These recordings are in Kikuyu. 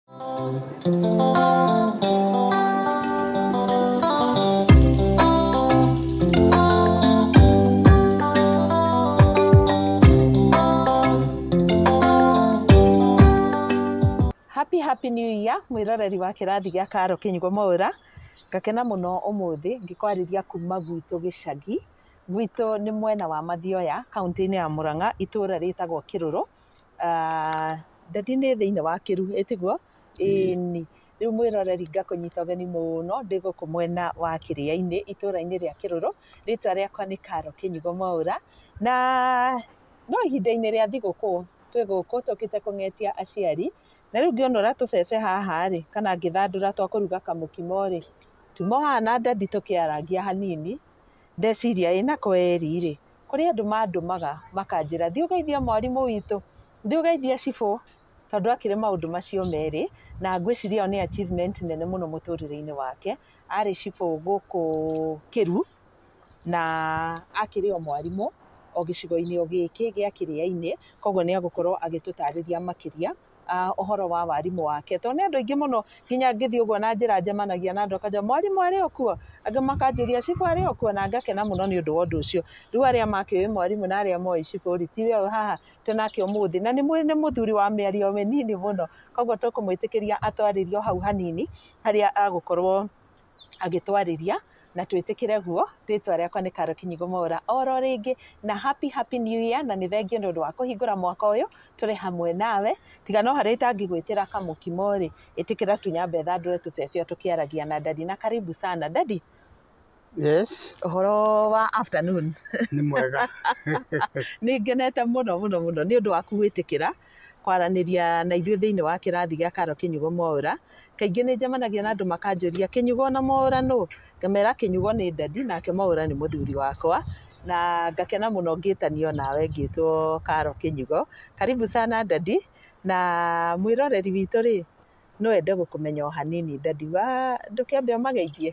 Happy happy new year mwĩroreri wa kĩrathi gĩa Karo Kĩnyugo Mwaũra ngakena mũno ũmũthĩ ngĩkwarĩria kuma gwitũ gĩcagi gwitũ nĩ mwena wa Mathioya kaunti-inĩ ya Mũrang'a itũra rĩtagwo Kĩrũrũ Ah, Ndadi nĩ thĩinĩ wa kĩru ĩtiguo ĩni rĩu mwĩroreri ngakũnyita ũgeni mũno ndĩ gũkũ mwena wa kĩrĩa-inĩ itũra-inĩ rĩa kĩrũrũ rĩtwa rĩakwa nĩ karo kĩnyigo mwaũra na no ihinda-inĩ rĩa thigũkũ twĩ gũkũ tũkĩte kũng'etia aciari na rĩu ngĩonora tũbebe haha rĩ kana ngĩthandũra twa kũruga kamũkimo rĩ tumo haha na ndadi tũkĩarangia hanini ndeciria ĩ na kweri rĩ kũrĩ andũ mandũmaga makanjĩra thiĩ ũgeithie mwarimũ witũ, thiĩ ũgeithie cibũ, tondũ akĩrĩ maũndũ macio merĩ, na ngwĩciria ĩyo nĩ achievement nene mũno mũtũrĩre-inĩ wake, arĩ cibũ gũkũ Kĩru, na akĩrĩ o mwarimũ o gĩcigo-inĩ o gĩkĩ gĩa Kĩrĩainĩ, koguo nĩ egũkorwo agĩtũtarĩria makĩria. uh, ũhoro wa warimũ wake tondũ nĩ andũ aingĩ mũno nginya ngĩthiĩ ũguo na njĩra njemanagia na andũ akanjĩra mwarimũ arĩ o kuo angĩ makanjũria cibũ arĩ o kuo na ngakena mũno nĩ ũndũ wa ũndũ ũcio rĩu arĩa makĩũĩ mwarimũ na arĩa moĩ cibũ rĩ tiwe ũyũ haha twĩ nake ũmũthĩ na nĩ mũthuri wa mĩario mĩnini mũno koguo tũkũmwĩtĩkĩria atwarĩrio hau hanini harĩa agũkorwo agĩtwarĩria na twĩtĩkĩre guo rĩtwa rĩakwa nĩ Karo Kinyigo Mwaura oro rĩngĩ na happy happy new year na nĩ thengio nĩ ũndũ wa kũhingũra mwaka ũyũ tũrĩ hamwe nawe tiga no harĩ itangĩgwĩtĩra kamũkimo rĩ ĩtĩkĩra tunyambe thandũre tũbebio tũkĩaragia na dadi na karibu sana dadi Yes, ũhoro wa afternoon nĩ mwega. nĩ ngenete mũno mũno mũno nĩ ũndũ waku gwĩtĩkĩra kwaranĩria na ithuĩ thĩinĩ wa kĩrathi gĩa Karo Kĩnyugo Mwaũra. Kaingĩ nĩ njemanagia na andũ makanjũria Kĩnyugo na Mwaũra nũ? Ngamera Kĩnyugo nĩ ndadi nake Mwaũra nĩ mũthuri wakwa na ngakena mũno ngĩtanio nawe ngĩtwo Karo Kĩnyugo. Karibu sana ndadi na mwĩroreri witũ rĩ, no ende gũkũmenya o hanini ndadi wa, ndũkĩambe ũmageithie?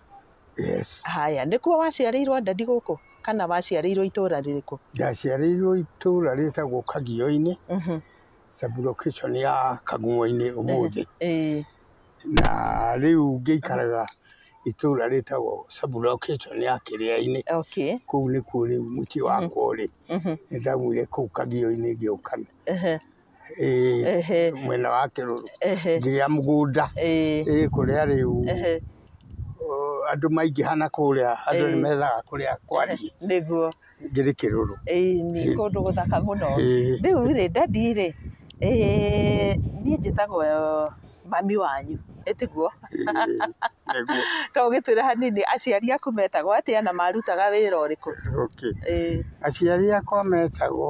Yes. Haya, nĩkuo waciarĩirwo Ndadi gũkũ kana waciarĩirwo itũra rĩrĩkũ? Ndaciarĩirwo itũra rĩtagwo Kagio-inĩ, Mhm. sublocation ya Kagumo-inĩ ũmũthĩ. Ĩĩ. Na rĩu ngĩikaraga itũra rĩtagwo sublocation ya Kĩrĩa-inĩ. Okay. Kũu nĩkuo rĩu mũciĩ wakwa ũrĩ. Mhm. Nĩ ndaumire kũu Kagio-inĩ ngĩũka Ehe. mwena wa kĩrũrũ ngĩgĩa mũgũnda kũrĩa rĩu andũ maingĩha na kũrĩa andũ nĩ methaga kũrĩa kwariĩ ngĩrĩ kĩrũrũ. Nĩ kũndũ gũthaka mũno. Rĩu rĩ daddy rĩ niĩ njĩtagwo mami wanyu tiguo? To ũgĩtwĩre hanini aciari aku metagwo atĩa na marutaga wĩra ũrĩkũ? Aciari akwa metagwo...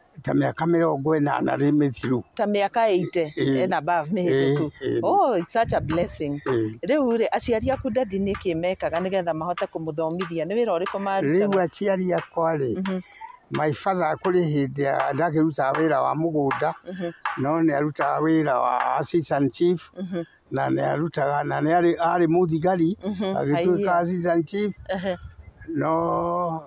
ta mĩaka mĩrongo ĩnana rĩ mĩthiru ta mĩaka ĩite Eh. ena bavu mĩhĩtũku Eh, eh. oh it's such a blessing Eh. rĩu rĩ aciari aku ndadi nĩ kĩ mekaga nĩgetha mahote kũmũthomithia nĩ wĩra ũrĩkũ rĩu marutaga aciari akwa rĩ Mhm. my father kũrĩ hĩndĩ ya- ndakĩrutaga wĩra wa mũgũnda Mhm. no nĩ arutaga wĩra wa assistant chief Mhm. na nĩ arutaga na nĩ arĩ arĩ mũthigari Mhm, agĩtuĩka haiya. assistant chief Ehe, no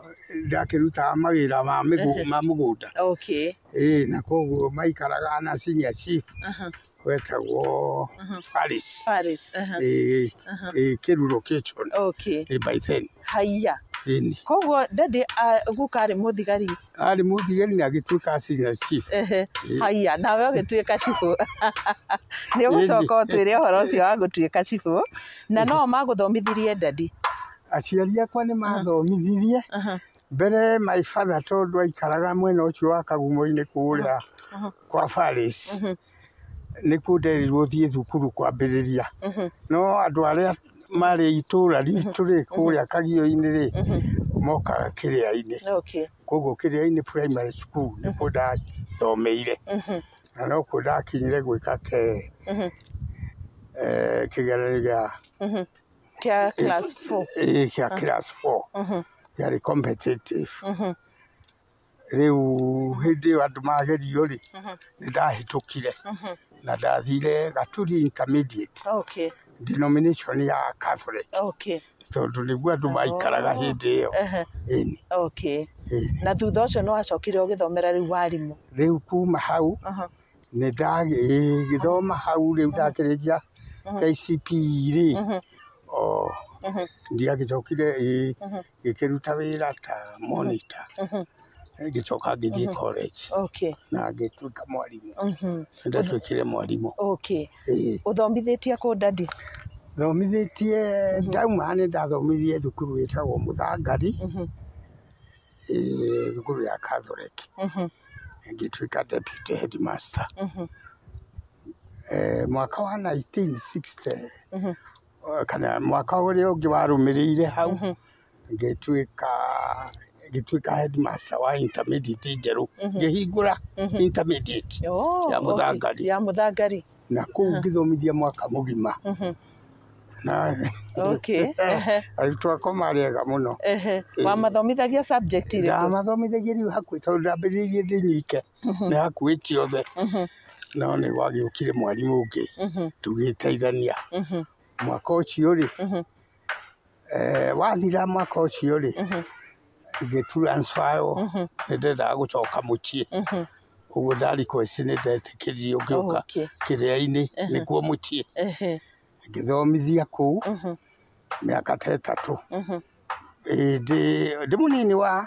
ndakĩrutaga mawĩra ma mĩgũ- ma mũgũnda okay. ĩĩ na koguo maikaraga na senior chief Aha, wetagwo aha. Paris Paris, aha, ĩĩ aha. ĩĩ kĩruro kitchen Okay. ĩĩ by then Haiya. ĩni Koguo daddy ah, guka arĩ mũthigari arĩ mũthigari na agĩtuĩka senior chief. Ehe, Ĩ. haiya nawe ũgĩtuĩka cibũ nĩ ũgũcoka ũtwĩre ũhoro ũcio wa gũtuĩka cibũ na no magũthomithirie ndadi Aciari akwa nĩ mathomithirie Aha, mbere my father tondũ aikaraga mwena ũcio wa kagumo-inĩ kũrĩa aha, kwa Paris. mhm, Nĩkuo nderirwo thiĩ thukuru kwambĩrĩria. mhm, No andũ arĩa marĩ itũra ritũ rĩ kũrĩa kagio-inĩ rĩ mokaga kĩrĩa-inĩ Okay. koguo kĩrĩa-inĩ primary school nĩkuo ndathomeire na nokuo ndakinyire gwĩka ke eh, kĩgeranio gĩa Mhm. Kia class four. eh, gĩa class four gĩarĩ competitive Rĩu hĩndĩ ĩyo andũ magerio rĩ, nĩ ndahĩtũkire na ndathire Gaturi Intermediate Okay. denomination ya Catholic Okay. tondũ nĩguo andũ maikaraga hĩndĩ ĩyo. Ehe. Ĩni, Okay. ĩni. Na thutha ũcio nĩ wacokire ũgĩthomera rĩu warimũ. Rĩu kuma hau Aha. nĩ ndagĩthoma hau rĩu ndakĩrĩkia KCPE rĩ, o ndiagĩcokire ĩ, ngĩkĩruta wĩra ta monitor ngĩcoka ngĩthiĩ college Okay. na ngĩtuĩka mwarimũ Mhm. nĩ ndatuĩkire mwarimũ Okay. Ĩĩ. Ũthomithĩtie kũ ndadi? thomithĩtie ndauma nĩ ndathomithie thukuru wĩtagwo mũthangari Mhm. ĩĩ, thukuru ya catholic Mhm. ngĩtuĩka deputy headmaster Mhm. Eh, mwaka wa 1960 Mhm. kana mwaka ũrĩa ũngĩ warũmĩrĩire hau, ngĩtuĩka ngĩtuĩka head master wa intermediate njerũ, ngĩhingũra intermediate ya Mũthangari, ya Mũthangari, na kũu ngĩthomithia mwaka mũgima. Na okay. arutwo akwa marĩ ega mũno. Wamathomithagia subject irĩkũ? Ndamathomithagia rĩu hakuhĩ tondũ ndambĩrĩirie ndĩ nyike. nĩ hakuhĩ ciothe no nĩ gwagĩũkire mwarimũ ũngĩ tũgĩteithania mwaka ũcio rĩ eh, wathira mwaka ũcio rĩ ngĩturansfaywo nĩ ndendaga gũcoka mũciĩ ũguo ndarikoici nĩ ndetĩkĩririo ngĩũka Okay. kĩrĩa-inĩ nĩkuo mũciĩ Ehe. ngĩthomithia kũu mĩaka ta ĩtatũ Ĩndĩ- ndĩ mũnini wa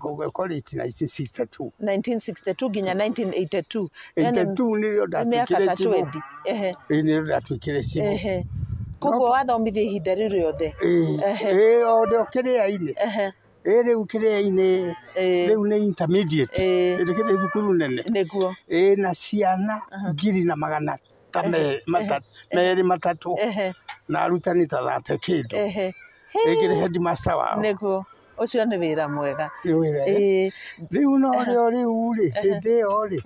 gũgĩkorĩti 1962 1962 nginya 1982 Yaani, 82 nĩrĩo mĩaka ndatuĩkire ta chibu 20 ehe ĩĩ nĩrĩo ndatuĩkire chibu ehe koguo wathomithia ihinda rĩu rĩothe Ehe. ĩĩ ode kĩrĩa-inĩ ehe ĩĩ rĩu kĩrĩa-inĩ Ĩĩ. rĩu nĩ intermediate Ĩĩ. rĩu nĩ thukuru nene nĩguo ĩĩ na ciana ngiri na magana ta merĩ matatũ na arutani ta thate kĩndũ rĩngĩ nĩ headmaster wao nĩguo ũcio nĩ wĩra mwega nĩ wĩra rĩu no rĩo rĩu rĩ hĩndĩ ĩyo rĩ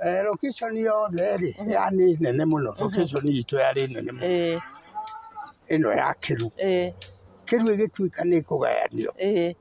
eh, location yothe rĩ ya nĩ nene mũno location itũ yarĩ nene mũno ĩno ya kĩru kĩru ĩgĩtuĩka nĩ kũgayanio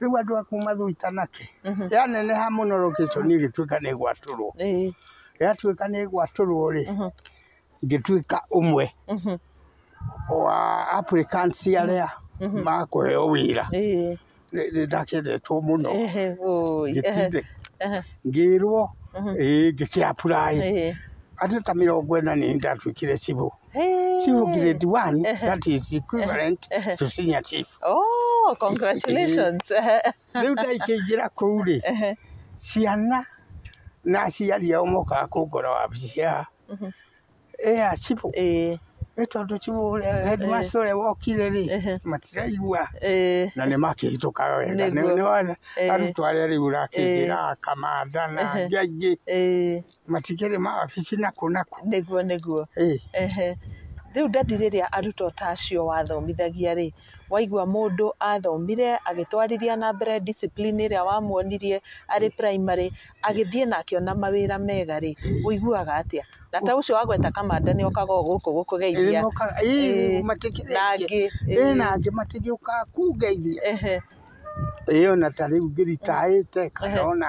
Rĩu andũ a kuma Thũitanake Mhm. yaneneha mũno location ĩgĩtuĩka nĩ gwatũrwo Eh, yatuĩka nĩ gwatũrwo rĩ Mhm. ngĩtuĩka ũmwe mhm, wa applicants arĩa makũheo wĩra eh, Nĩ- nĩ ndakendetwo mũno ehe, oi, ehe, ngĩtinde ehe, ngĩrwo Mhm. ĩĩ ngĩkĩapuraĩ eh, andũ ta mĩrongo ĩna nĩ ndatuĩkire cibũ Hey. Chief grade one, that is equivalent to senior chief. Oh, congratulations. Rĩu ndaikĩingĩra kũu rĩ, ciana na aciari ao mokaga kũngora wabici ya ya cibũ. Eh, Nĩ tondũ cibũ ũrĩa headmaster ũrĩa wokire rĩ, Ehe. matiraigua eh, na nĩ makĩhĩtũkaga wega. Nĩguo. Nĩ- nĩ wa- Eh. Arutwo arĩa rĩu ũrakĩingĩra, Kamanda na angĩ aingĩ eh. Matikĩrĩ mawabici nakũ nakũ. Nĩguo nĩguo. Ehe. Rĩu ndadi rĩrĩa arutwo ta acio wathomithagia rĩ, waigua mũndũ athomire agĩtwarithia na mbere discipline ĩrĩa wamuonirie arĩ primary, agĩthiĩ na akĩona mawĩra mega rĩ, ũiguaga atĩa? Na ta ũcio wagweta kamande nĩ okaga o gũkũ gũkũgeithia. Ĩĩ matikĩrĩ aingĩ. Ĩĩ na angĩ matigĩũkaga kũngeithia. Ĩĩ o na ta rĩu ngĩ retire ĩte kana o na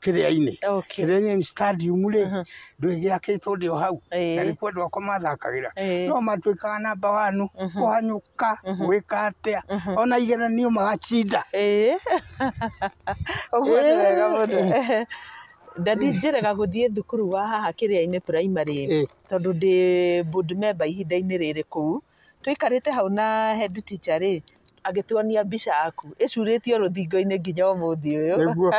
kĩrĩa-inĩ okay. kĩrĩa-inĩ nĩ stadium rĩ Mhm. ndũĩ gĩakĩtwo ndĩ o hau na Ĩĩ. nĩkuo andũ akwa mathakagĩra Ĩĩ. no matuĩkaga namba wanu Mhm. kũhanyũka Mhm. gwĩka atĩa Mhm. ona igeranio magacinda Ĩĩ. ũguo nĩ wega mũno Ĩĩ. ndadi njĩrega gũthiĩ thukuru wa haha kĩrĩa-inĩ primary Ĩĩ. tondũ ndĩ board member ihinda-inĩ rĩrĩ kũu Tũikarĩte hau na head teacher rĩ, agĩtuonia mbica yaku ĩcurĩtio rũthingo-inĩ nginya ũmũthĩ ũyũ. Nĩguo.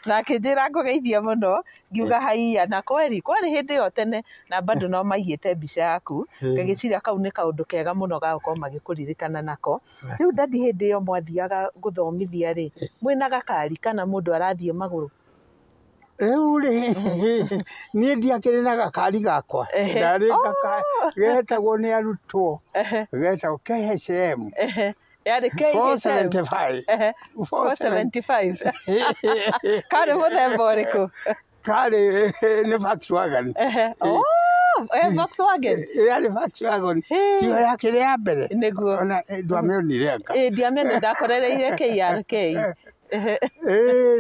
Na akĩnjĩra ngũgeithie mũno, ngiuga haiya. Na kweri, kwarĩ hĩndĩ ĩyo tene na bado no maigĩte mbica yaku, ngagĩciria kau nĩ kaũndũ kega mũno ga gũkorwo magĩkũririkana nako. Rĩu daddy hĩndĩ ĩyo mwathiaga gũthomithia rĩ, mwĩna gakari kana mũndũ arathiĩ magũrũ? Rĩu-rĩ, niĩ ndiakĩrĩ na gakari gakwa, ndarĩ gakari getagwo nĩ arutwo, getagwo KHM 475. Karĩ mũthemba ũrĩkũ? Karĩ nĩ Volkswagen. Yarĩ Volkswagen, tiyo yakĩrĩ ya mbere? Nĩguo. Ona ndwamĩonire anga? Ĩĩ ndiamĩonire, ndakorereire KRK. Ĩĩ,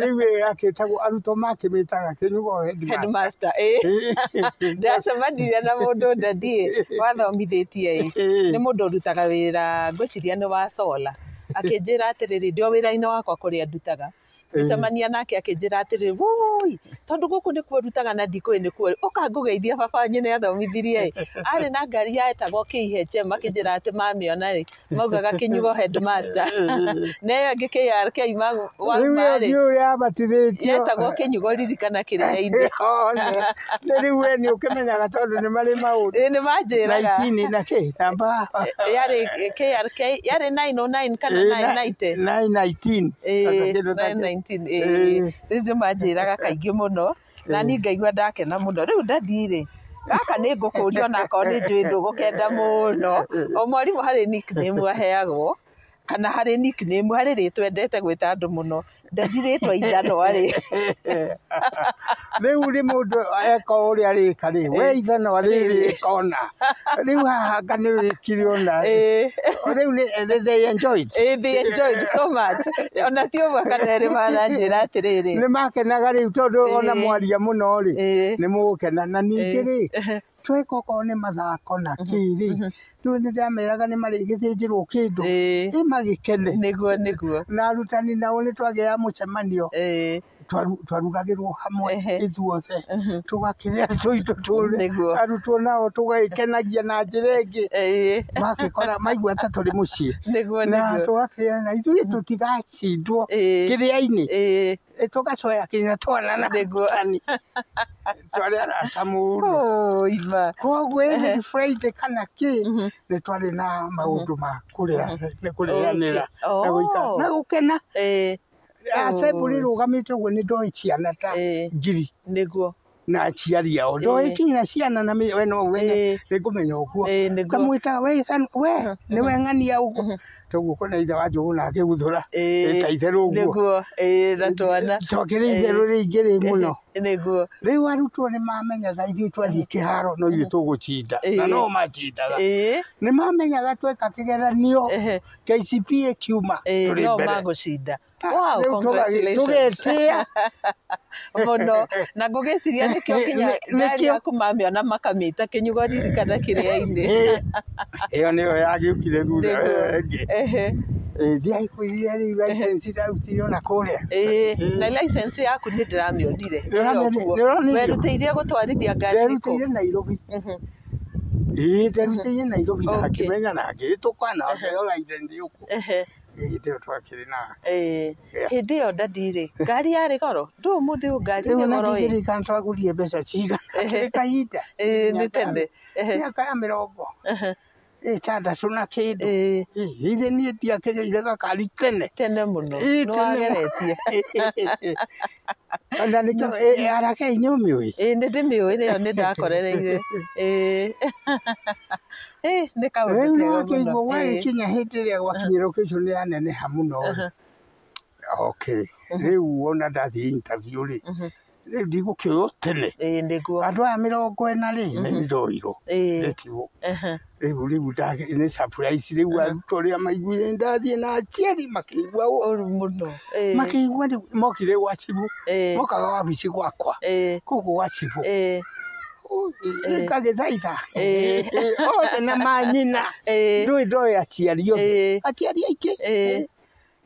rĩu ĩĩ akĩtagwo arutwo makĩmĩtaga kĩnyugo headmaster. headmaster ĩ Ĩĩ. ndacemanirie na mũndũ ndadiĩ wathomithĩtie ĩ Ĩĩ. nĩ mũndũ ũrutaga wĩra ngwĩciria nĩ wa sola akĩnjĩra atĩrĩrĩ ndĩ o wĩra-inĩ wakwa kũrĩa ndutaga ngĩcemania nake akĩnjĩra atĩrĩrĩ woi tondũ gũkũ nĩkuo ndutaga na ndikũĩ nĩkuo rĩ ũka ngũgeithie baba wanyu nĩ athomithirie ĩ arĩ na ngari yetago KHM akĩnjĩra atĩ mamĩona rĩ maugaga kinyugo headmaster na ĩyo ĩngĩ KR kĩa ima rĩu ĩyo wagmarĩ ndiũ ũrĩa abatithĩtio yetagwo kinyugo ririkana kĩrĩa-inĩ One. Nĩ rĩu we nĩ ũkĩmenyaga tondũ nĩ marĩ maũndũ Ĩĩ, nĩ manjĩraga naitini na kĩ namba yarĩ KRK yarĩ 909 kana Ĩĩ, na- 990 nine nineteen. Ĩĩ, Kĩndũ ta kĩu. 919, ĩĩ. Ĩĩ. rĩu nĩ manjĩraga kaingĩ mũno na niĩ ngaigua ndakena mũno rĩu ndathiĩ-rĩ gaka nĩ ngũkũria ona akorwo nĩ njũĩ ndũgũkenda mũno o mwarimũ harĩ nickname aheagwo kana harĩ nickname harĩ rĩtwa endete gwĩta andũ mũno ndathi rĩtwa ithanwa-rĩ rĩu rĩ mũndũ eka ũrĩa arĩka rĩ we ithanwa rĩrĩ ĩkona rĩu haha anga nĩ wĩkire ona eh. rĩu nĩ they enjoyed eh, they enjoyed so much ona ti ũmwe kana erĩ maranjĩra atĩrĩrĩ nĩ makenaga rĩu tondũ eh. ona mwaria mũno rĩ nĩ mũgũkena na ningĩ rĩ tweka okorwo nĩ mathako na mhm, kĩrĩ mhm. rĩu nĩ ndameraga nĩ marĩgĩthĩnjĩrwo kĩndũ ĩ magĩkene nĩguo nĩguo na arutani nao nĩ twagĩa mũcemanio twarugagĩrwo hamwe ithuothe tũgakĩrĩa tũitũ tũrĩ arutwo nao tũgagĩkenagia na njĩra ĩngĩ magagĩkora maigua ta tũrĩ mũciĩ na tũgakĩra na ithuĩ tũtigacindwo kĩrĩa-inĩ tũgacoya kinya twana na arutani twarĩ arata mũno kwoguo ĩĩ nĩ Friday kana kĩ nĩ twarĩ na maũndũ ma kũrĩanĩra na gũkena. Asemburi rugamite uguo ni ndoi ciana ta Eh. ngiri nĩguo na aciari ao ndoi kinya ciana na mi- we no umenye nĩ ngũmenya ũguo Eh, nĩguo. kamwĩtaga we Ethan, we nĩ we ng'ania ũguo toguo kona ithe wa njũgũ na akĩguthũra Eh, ĩta itherũ ũguo nĩguo Eh, na twana tokĩrĩ itherũ rĩingĩ rĩ mũno Eh, nĩguo rĩu arutwo nĩ mamenyaga ithuĩ twathiĩ kĩharo no ithuĩ tũgũcinda na Eh. no macindaga Eh, nĩ mamenyaga tweka kĩgeranio ehe, KCP ĩkiuma Eh, tũrĩ no mbere. magũcinda Ah, wow, rĩu tũgagĩ- congratulations. tũgetĩa mũno na ngũgĩciria nĩkĩo Nĩ- kinya nĩ- ngari nĩkĩo. yaku mamĩona makamĩta kĩnyugo ririkana kĩrĩa-inĩ Eh, ĩyo nĩyo yagĩũkire thutha Nĩguo. ĩyo ĩngĩ Ehe, ndiaikuire rĩu license ndarutire ona kũrĩa ĩĩ. na license yaku nĩ ndĩramĩonire Ndĩramĩonire, Ĩyo kuo. ndĩronire. werutĩirie gũtwarithia ngari kũ nderutĩire nairobi Mhm. Ĩĩ nderuteire Nairobi na ngĩmenya na ngĩhĩtũka na ngĩheo license gũkũ hĩndĩ ĩyo twakĩrĩ na fare. Hĩndĩ ĩyo ndadi rĩ, ngari yarĩ goro? Ndũĩ ũmũthĩ ũyũ ngari ĩrĩ goro ĩ. Rĩu ndingĩririkana twagũrire mbeca cigana, nĩ kahinda. Ĩĩ nĩ tene. Mĩaka ya mĩrongo. ĩtandatũ na kĩndũ Ĩĩ, Ĩ, ithe niĩ ndiakĩgĩire gakari tene tene mũno Ĩĩ, tene mũno. nĩwageretie ona nĩkĩo ĩ- arakei nĩ ũmĩũĩ Ĩĩ, nĩ ndĩmĩũĩ nĩyo nĩ ndakorereire Ĩĩ. Ĩĩ, nĩ kaũndũ rĩu kega nĩwakĩiguo mũno. Ĩĩ. gwagĩkinya hĩndĩ ĩrĩa gwakinyĩrwo kĩcu nĩ aneneha mũno rĩ okay rĩu wona ndathiĩ interview rĩ Mhm. rĩu ndigũkĩoywo tene ĩĩ nĩguo andũ aya mĩrongo ĩna rĩ nĩ ndoirwo ĩĩ ndĩtigwo ehe rĩu rĩu ndagĩ- nĩ surprise rĩu arutwo rĩa maiguire nĩ ndathiĩ na aciari makĩigua ũũ ũru mũno ĩĩ makĩigua rĩu mokire gwa cibũ ĩĩ mokaga wabici gwakwa ĩĩ kũguo gwa cibũ ĩĩ ngagĩthaitha Ĩĩ. othe na manyina ĩĩ ndũĩ ndoĩ aciari othe ĩĩ aciari aingĩ ĩĩ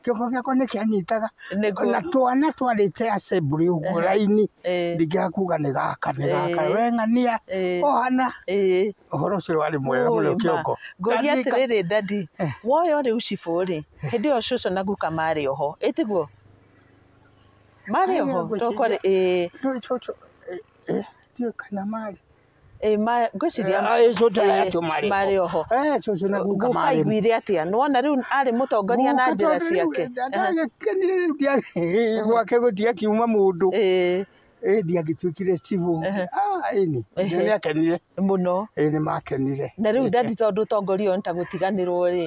kĩongo gĩakwa nĩ kĩanyitaga Nĩguo. ona twana twarĩte assembly ũguo raini Ĩĩ. ndingĩaga kuga nĩ gaka nĩ gaka Ĩĩ. we ng'ania Ĩĩ. ohana Ĩĩ. ũhoro ũcio warĩ mwega mũno Ũĩ ma. kĩongo Ngũria Ndarika- atĩrĩrĩ ndandi woyo rĩu cibũ rĩ hĩndĩ ĩyo cũcũ na guka marĩ oho ĩtiguo marĩ Aya, oho ngwĩciria- tokore ĩĩ Ndũĩ cũcũ, eh, eh, ndiũĩ kana marĩ Eh, ma- ngwĩciria Eh, eh, cũcũ eh, acio marĩ ho. marĩ oho Eh, cũcũ na guka guka marĩ ho. aiguire atĩa nĩwona rĩu arĩ mũtongoria na Guka njĩra tondũ rĩu ciake ndagĩkenire rĩu ndia- gwake gũtiakiuma mũndũ Eh, Eh, ndiagĩtuĩkire cibũ Ah, ĩni Ehe. nĩakenire mũno Eh, nĩmakenire na rĩu ndandi tondũ ũtongoria ũyũ nĩ ta gũtiganĩrwo rĩ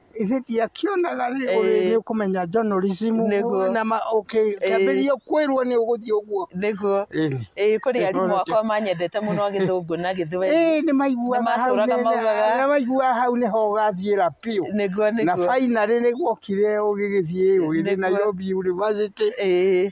Ĩĩ ndiakĩonaga rĩ ũrĩ nĩ ũkũmenya journalism Nĩguo. na ma- ũkĩ- ũkĩambĩrĩria kwĩrwo nĩ ũgũthiĩ ũguo nĩguo Ĩni. ĩĩ kũrĩ Ĩĩ, arimũ akwa tũrute. manyendete mũno gĩthũngũ na gĩthweri Ĩĩ nĩ maiguaga Nĩ hau matũũraga nĩ- maugaga. nĩ maiguaga hau nĩho ũgathiĩra biũ nĩguo na nĩguo fainarĩ nĩ guokire ũgĩgĩthiĩ ũgĩthiĩ Nĩguo. Nairobi University ĩĩ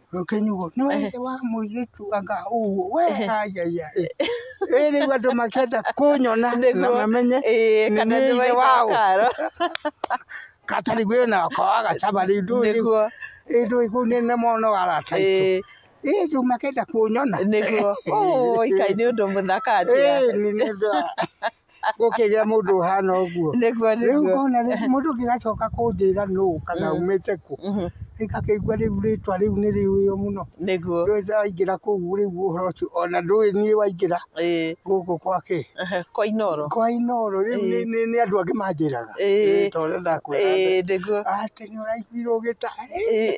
Kinyugo, nĩ wa ithe wa mũirĩtu anga ũguo, we ayaya ĩ. Ĩ rĩu andũ makĩenda kũnyona na Nĩguo. mamenye Ĩĩ, nĩ kana nĩ nĩ wa ithe wao. Karo. Katari gwĩ na kawa gacaba rĩu ndũĩ rĩu. Nĩguo. Ĩ ndũĩ kũu nĩ nĩ mono arata aitũ. Ĩĩ, Ĩ rĩu makĩenda kũnyona. nĩguo. Ũũ, ikai nĩ ũndũ mũthaka atĩa. Ĩ nĩ nĩ ndũĩ. gũkĩgĩa mũndũ ũhana ũguo nĩguo rĩu nĩguo ngona rĩ- mũndũ ũngĩgacoka kũnjĩra nũ kana umĩte kũ Mhm. ngakĩigua rĩu rĩtwa rĩu nĩ rĩũyũ mũno nĩguo ndũĩ waingĩra kũu rĩu ũhoro ũcio ona ndũĩ niĩ waingĩra Ĩĩ. gũkũ kwake kwa inoro kwa inoro rĩu Ĩĩ. nĩ- nĩ- nĩ andũ angĩ manjĩraga Ĩĩ. Ĩĩ, ta ũrĩa ndakwĩra Ĩĩ, nĩguo atĩ nĩ ũraiguire ũgĩta Ĩĩ.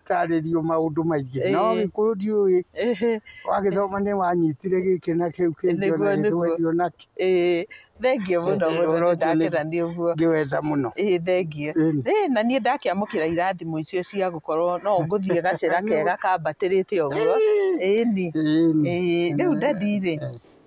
Tarĩrio maũndũ maingĩ Ĩĩ. no gĩkũyũ ndiũĩ Ĩhĩ, wagĩthoma nĩ wanyitire gĩkĩ na kĩu kĩngĩ Nĩguo, ona nĩguo. gĩthweri ona kĩ ĩĩ, thengiũ mũno Ĩĩ, mũno ũrotio nĩ- ndakena nĩ ũguo ngĩwenda mũno ĩĩ thengiũ Ĩĩ. Ĩĩ, na niĩ ndakiamũkĩra irathimo icio cia gũkorwo no ngũthiĩ gacĩra kega kambatĩrĩte ũguo ĩni Ĩni. Ĩĩ, rĩu ndathiĩ-rĩ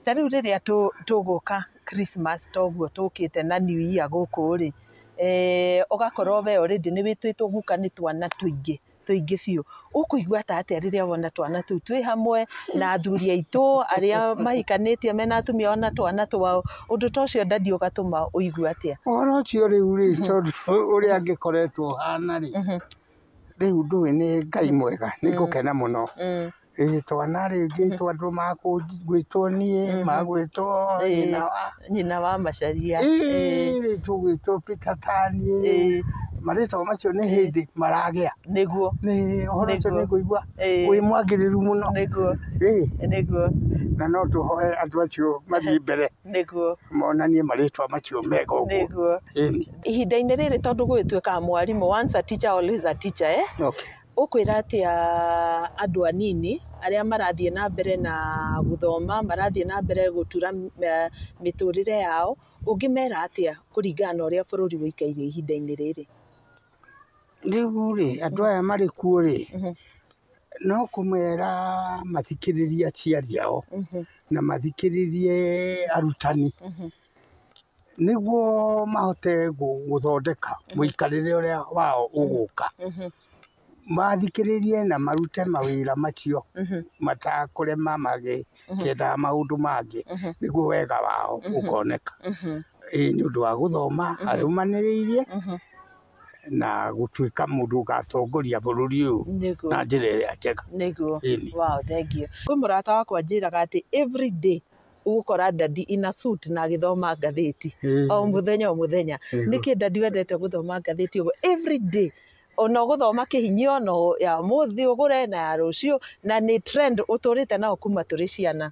ta rĩu rĩrĩa tũ- tũgũka Christmas toguo tũkĩte na new year gũkũ-rĩ eh, ũgakorwo we already nĩ wĩtwĩtwo guka nĩ twana tũingĩ tũingĩ biũ ũkũigua ta atĩa rĩrĩa wona twana tũu twĩ hamwe na athuri aitũ arĩa mahikanĩtie mena atumia ona twana twao ũndũ ta ũcio ndadi ũgatũma ũigua atĩa ũhoro ũcio rĩu rĩ tondũ ũrĩa angĩkoretwo ũhana rĩ rĩu ndũĩ nĩ Ngai mwega nĩ ngũkena mũno. Ngĩgĩtwa na rĩu ngĩgĩtwa andũ magwĩtwo niĩ, magwĩtwo nyina wa. Nyina wa Macharia. Ĩĩ rĩu tũgwĩtwo Peter Pan ĩĩ. Ĩĩ. Marĩtwa macio nĩ hĩndĩ maragĩa. Nĩguo. Nĩ ũhoro ũcio nĩ ngũigua wĩ mwagĩrĩru mũno. Nĩguo. Ĩĩ. Nĩguo. Na no tũhoe andũ acio mathiĩ mbere. Nĩguo. Monanie marĩtwa macio mega ũguo. Nĩguo. Ĩni. ihinda-inĩ rĩrĩ tondũ gũgĩtuĩkaga mwarimũ once a teacher always a teacher eh? okay. ũkwĩra atĩa andũ anini arĩa marathiĩ na mbere na gũthoma marathiĩ na mbere gũtura eh, mĩtũrĩre yao ũngĩmera atĩa kũringana na ũrĩa bũrũri wĩikaire ihinda-inĩ rĩrĩ rĩu rĩ andũ aya marĩ kuo rĩ mhm. no kũmera mathikĩrĩrie aciari ao mhm. na mathikĩrĩrie arutani mm -hmm. Nĩguo mahote gũthondeka mũikarĩre ũrĩa wao ũgũka, mathikĩrĩrie na marute mawĩra macio matakũrema magĩetha maũndũ mangĩ nĩguo wega wao ũkoneka. Ĩĩ nĩ ũndũ wa gũthoma arũmanĩrĩirie na gũtuĩka mũndũ ũgatongoria bũrũri ũyũ na njĩra ĩrĩa njega. Nĩguo, wow thengiũ. Kwĩ mũrata wakwa anjĩraga atĩ everyday ũgũkora ndadi ina suit na agĩthoma ngathĩti o mũthenya o mũthenya nĩkĩ ndadi wendete gũthoma ngathĩti ũguo every day ona ũgũthoma kĩhinyio no ya mũthĩ ũgũre na ya rũciũ na nĩ trend ũtũrĩte nao kuma tũrĩ ciana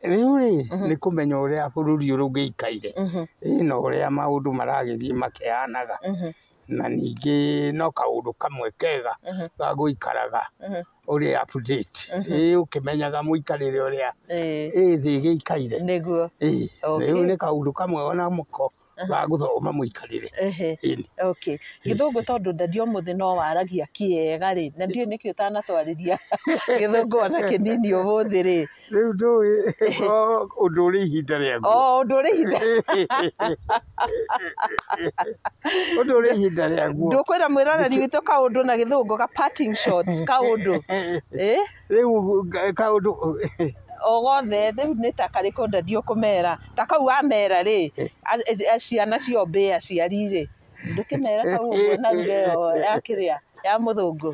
rĩu rĩ mhm. nĩ kũmenya ũrĩa bũrũri ũrũngĩikaire mhm. na ũrĩa maũndũ maragĩthiĩ makĩhanaga mhm. na ningĩ no kaũndũ kamwe kega Mhm. ga gũikaraga Mhm. ũrĩ update Mhm. ĩĩ ũkĩmenyaga mũikarĩre ũrĩa Eh, ĩĩ thĩ ĩgĩikaire nĩguo ĩĩ Okay. rĩu nĩ kaũndũ kamwe ona mũko ga gũthoma mũikarĩre Ehe. ĩĩ okay gĩthũngũ tondũ ndandi ũmũthĩ no waragia kĩega rĩ na ndiũĩ nĩkĩ ũtanatwarĩria gĩthũngũ ona kĩnini ũmũthĩ rĩ rä u ndå å ndå å rä ihinda rä aguo o ũndũ ũrĩ ihinda å ndå å rä ihinda rä aguo ndũkwĩra mwĩroreri witũ kaũndũ na gĩthũngũ ga parting shot kaũndũ ĩ rä u kaå ndå o gothe rĩu nĩ ta karĩkũ ndathiĩ ũkũmera ta kau wamera rĩ a- a- a- ciana ciombĩ aciari rĩ ndũkĩmera kau ũguo na ruga ĩyo ya kĩrĩa ya mũthũngũ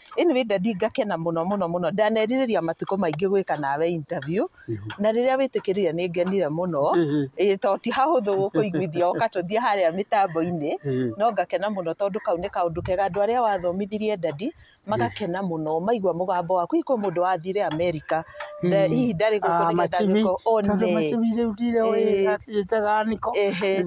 Anyway daddy ngakena mũno mũno mũno ndanerirĩria matukũ maingĩ gwĩka nawe interview na rĩrĩa wĩtĩkĩrire nĩ ngenire mũno ĩĩ to ti hahũthũ gũkũiguithia ũkatũthiĩ harĩa mĩtambo-inĩ no ngakena mũno tondũ kau nĩ kaũndũ kega andũ arĩa wathomithirie daddy magakena mũno maigua mũgambo waku hihi kwĩ mũndũ wathire America nda- hihi ndarĩ gũkũ nĩgetha angĩkorwo one Ehe.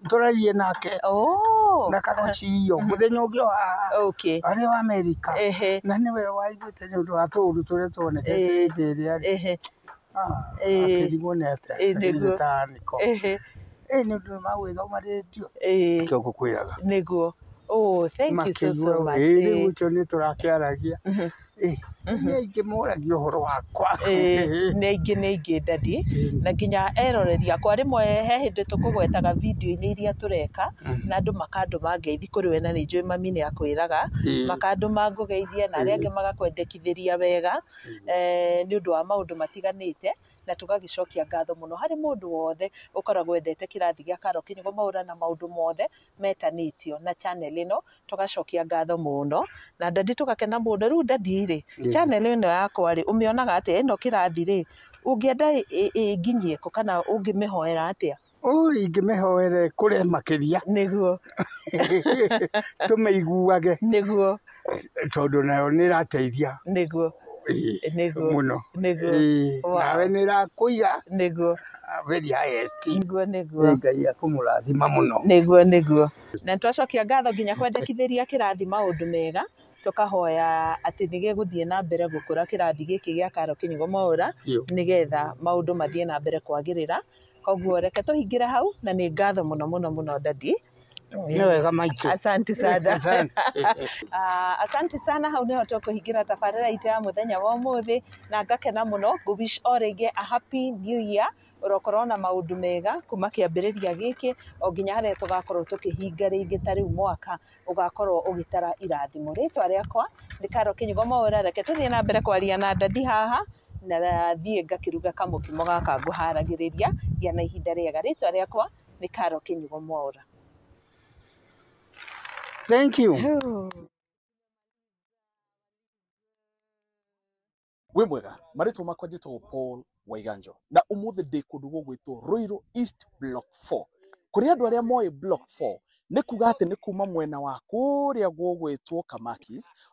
tũraririe nake Oh. na karochiyo mũthenya ũngĩ o haha Okay. arĩ wa Amerika Ehe. na nĩwe waiguĩte nĩ ũndũ wa tũũru tũrĩa tuonekete Eh. hĩndĩ ĩrĩa rĩ Ehe. Eh. akĩrigwo nĩ atĩa Eh, nĩguo. gĩgĩtanĩko Ehe. ĩ nĩ ũndũ magwĩthoma rĩndio Eh. kĩo ngũkwĩraga Nĩguo. Oh, thank you so, so much. Eh. rĩu ũcio nĩ tũrakĩaragia Nĩ aingĩ moragia ũhoro wakwa. Ĩĩ, nĩ aingĩ nĩ aingĩ ndadi na nginya eroreri akwa rĩmwe he hĩndĩ tũkũgwetaga video-inĩ iria tũreka na andũ makandũma ngeithi kũrĩ we na nĩ njũĩ mami nĩ akwĩraga Ĩĩ. makandũma ngũgeithie na arĩa angĩ magakwendekithĩria wega eh, nĩ ũndũ wa maũndũ matiganĩte na tũgagĩcokia ngatho mũno harĩ mũndũ wothe ũkoragwo wendete kĩrathi gĩa Carol Kĩnyugo Mwaũra na maũndũ mothe metanĩtio na channel ĩno, tũgacokia ngatho mũno, na ndadi tũgakena mũno. Rĩu ndadi rĩ, channel ĩno yakwa rĩ, ũmĩonaga atĩa? Ĩno kĩrathi rĩ, ũngĩenda ĩnginyie kũ kana ũngĩmĩhoera atĩa? Ũũ ingĩmĩhoere ĩkũre makĩria. Nĩguo. Tũmĩiguage. Nĩguo. tondå nayo nä rateithia niguo niguo muno niguo nawe nä rakå iga niguo very highest niguo niguo ngai akå må rathima må no niguo niguo na nä twacokia ngatho nginya kwendekithä ria kä rathi maå ndå mega tũkahoya atĩ nĩ gĩgũthiĩ na mbere gũkũra kĩrathi gĩkĩ gĩa Karo Kĩnyugo Mwaũra nĩgetha maũndũ mathiĩ na mbere kwagĩrĩra koguo reke tũhingĩre hau na nĩ ngatho mũno mũno mũno dadi nä wega maitå asanti sana Asante. Ah, asanti sana hau niho tũkũhingĩra tabarĩra itũ ya mũthenya wa ũmũthĩ na ngakena mũno ngũwish o rĩngĩ a happy new year ũrokorwo na maũndũ mega kuma kĩambĩrĩria gĩkĩ o nginya harĩa tũgakorwo tũkĩhinga rĩngĩ ta rĩu mwaka ũgakorwo ũgĩtara irathimo rĩtwa rĩakwa nĩ karo kĩnyugo maũra reke tũthiĩ na mbere kwaria na ndadi haha na thiĩ ngakĩruga kamũkimo gaka ngũharagĩrĩria gĩa na ihinda rĩega rĩtwa rĩakwa nĩ karo kĩnyugo mwaura thank you wĩ mwega marĩtwa makwa njĩtagwo paul waiganjo na ũmũthĩ ndĩ kũndũ gũgwĩtwo rũirũ east block 4 kũrĩ andũ arĩa moĩ block 4 nĩ kuga atĩ nĩ kuma mwena wa kũrĩa gũgwĩtwo kamakis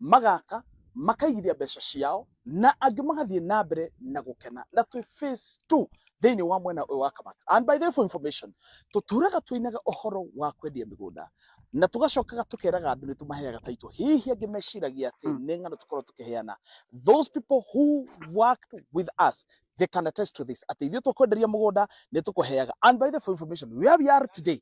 magaka makaigithia mbeca ciao na angĩ magathiĩ na mbere na gũkena na twĩ phase 2 thĩinĩ wa mwena ũyũ wa kamata and by the way for information tũturaga twĩinaga ũhoro wa kwendia mĩgũnda na tũgacokaga tũkeraga andũ nĩ tũmaheaga taito hihi angĩ meciragia atĩ Mm. nĩ ng'ano tũkorwo tũkĩheana those people who worked with us they can attest to this atĩ ithuĩ tũkwenderia mũgũnda nĩ tũkũheaga and by the way for information where we are today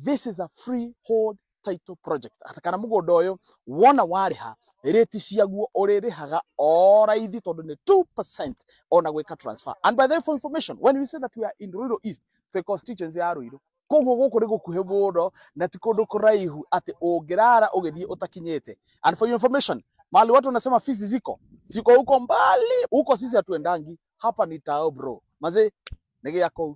this is a freehold title project Ata- kana mũgũnda ũyũ wona warĩha rĩti ciaguo ũrĩrĩhaga o raithi tondũ nĩ 2% ona gwĩka transfer and by the way for information when we say that we are in Ruiru East twĩ constituency ya Ruiru koguo gũkũ nĩ gũkuhĩ mũno na ti kũndũ kũraihu atĩ ũngĩrara ũgĩthiĩ ũtakinyĩte and for your information mahali watu wanasema fisi ziko ziko huko mbali huko sisi hatuendangi hapa ni tao bro mazee nĩ gĩako